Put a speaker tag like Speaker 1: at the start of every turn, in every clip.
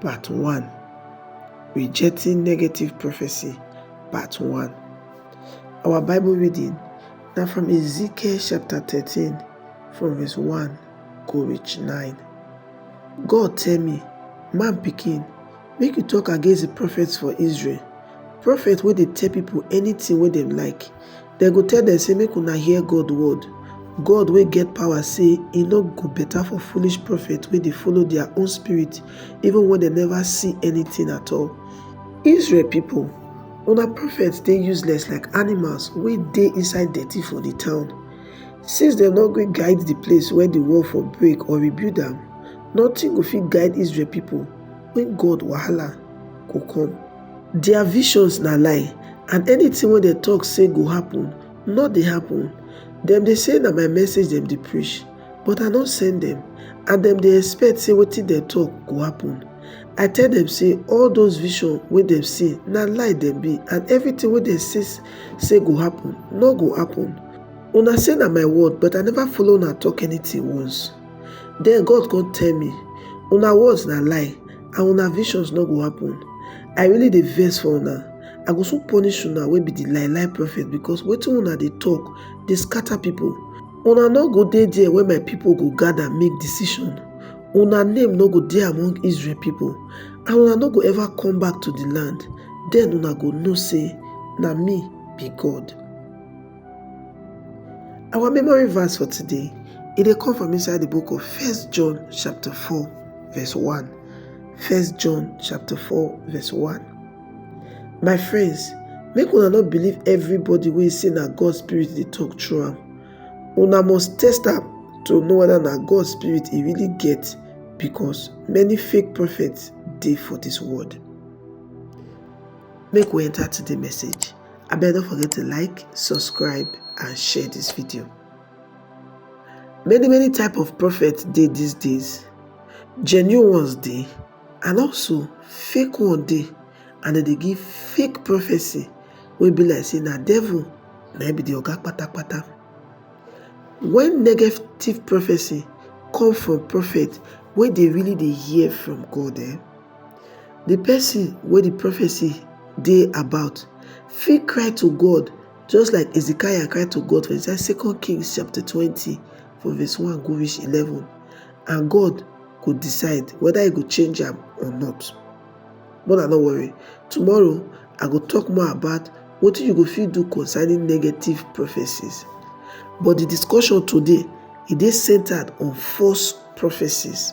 Speaker 1: Part 1 Rejecting Negative Prophecy Part 1 Our Bible reading now from Ezekiel chapter 13 from verse 1 go reach 9. God tell me, man picking, make you talk against the prophets for Israel. Prophet where they tell people anything where they like, Dem go tell dem sey make una hear God word, God wey get power sey e no go better for foolish prophet wey dey follow their own spirit even when dem never see anything at all. Israel people, una prophets dey useless like animals wey dey inside dirty for the town. Since dem no gree guide the place where the wall for break or rebuild am, nothing go fit guide Israel people when God wahala go come. Dia visions na lie and anytin wey dem tok say go happun no dey happun. Dem dey say na my message dem dey preach, but I no send dem and dem dey expect say wetin dem tok go happun. I tell dem say all those visions wey dem see na lie dem be and evritin wey dem say say go happun no go happun. Una say na my word but I neva follow una tok anytin once. Den God come tell me, una words na lie and una visions no go happen. I really dey vex for una. I go soon punish una wey be di lie lie prophet because wetin una dey talk dey scatter people. Una no go dey there when my people go gather make decision. Una name no go dey among Israel people and una no go ever come back to di land. Den una go know say na me be God. Our memory verse for today, it dey come from inside the book of First John chapter 4 verse 1. First John chapter 4 verse 1. My friends, make una not believe everybody wey say na God spirit dey talk through am. Una must test am to know whether na God spirit e really get because many fake prophets dey for this world. Make we enter to the message. abeg no forget to like subscribe and share this video many many type of prophet dey these days genuine ones dey and also fake one dey and dem dey give fake prophecy wey be like say na devil na be the oga patapata when negative prophecy come from prophet wey dey really dey hear from god eh Di pesin wey di prophecy dey about fit cry to God just like Hezekiah cry to God for inside Second Kings chapter twenty from verse one go reach eleven and God go decide whether he go change am or not. But I no worry, tomorrow I go talk more about wetin you go fit do concerning negative prophecies. But the discussion today e dey centered on false prophecies.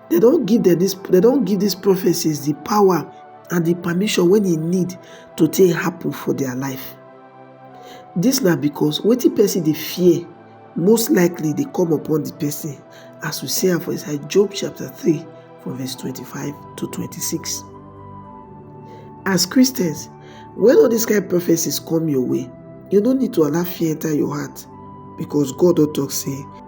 Speaker 1: Dem don give dem dis dem don give dis prophecies di power and di permission wey e need to take happen for dia life. Dis na because wetin pesin dey fear most likely dey come upon di pesin as we see am for inside Job chapter three from verse twenty five to twenty six. As Christians, wen all dis kain prophecies come your way, you no need to allow fear enta your heart because God don talk sey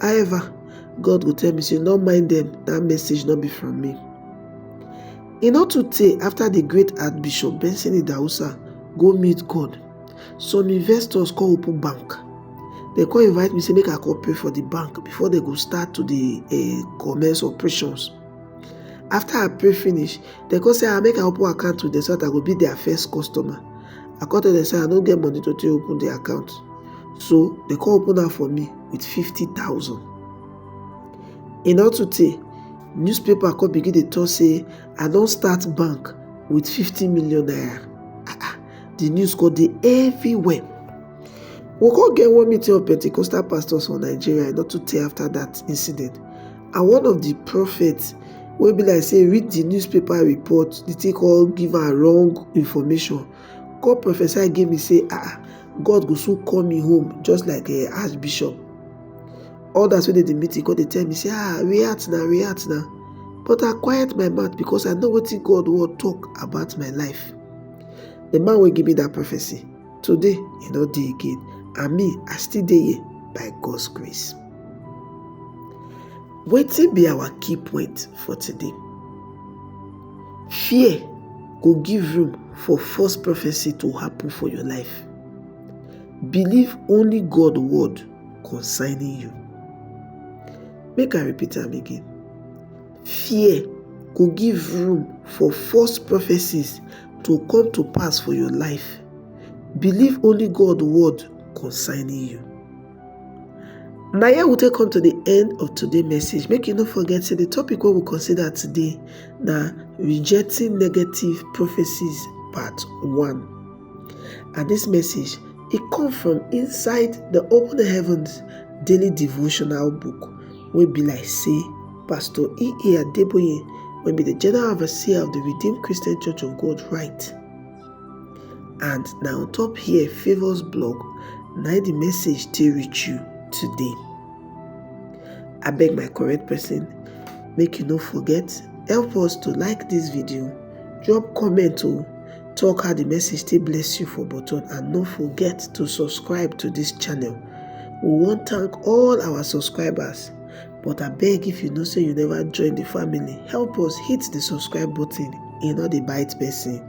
Speaker 1: However, God go tell me say, No mind dem, that message no be from me. E no too tey after the great Archbishop Benson Idahosa go meet God, some investors come open bank. They come invite me say make I come pray for the bank before they go start to the uh, eh, commence operations. After I pray finish, they come say I ah, make I open account to them so that I go be their first customer. I come tell them say I no get money to take open the account. So they come open am for me. with fifty thousand. E no too tey, newspaper come begin dey talk say I don start bank with fifty million naira. Ah ah, the news come dey everywhere. We come get one meeting of Pentecostal pastors for Nigeria e no too tey after that incident and one of the prophets wey be like say read the newspaper report, the thing come give am wrong information. come prophesy give me say ah god go soon call me home just like eh, archbishop others wey dey the meeting come dey tell me say ah react na react na but i quiet my mouth because i know wetin god wan talk about my life the man wey give me that prophecy today e no dey again and me i still dey here by god's grace wetin be our key point for today Fear go give room for false prophecy to happen for your life. Believe only God word concerning you. Make I repeat am again. Fear go give room for false prophecies to come to pass for your life. Believe only God word concerning you. Na here we take come to the end of today message. Make you no forget say the topic wey we consider today na rejecting negative prophecies part one. And this message e come from inside the Open Heavens daily devotional book wey be like say Pastor E. E. Adeboye wey be the general overseer of the Redeemed Christian Church of God write. and na on top here favours blog na the message take reach you today I beg my correct person make you no forget help us to like this video drop comment o oh. talk how the message take bless you for button and no forget to subscribe to this channel we wan thank all our subscribers But I beg if you know say you never join the family, help us hit the subscribe button. E no dey bite person.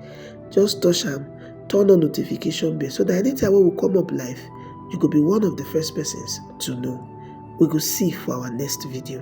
Speaker 1: Just touch am, turn on notification bell so that anytime wey we come up live, you go be one of the first persons to know. We go see for our next video.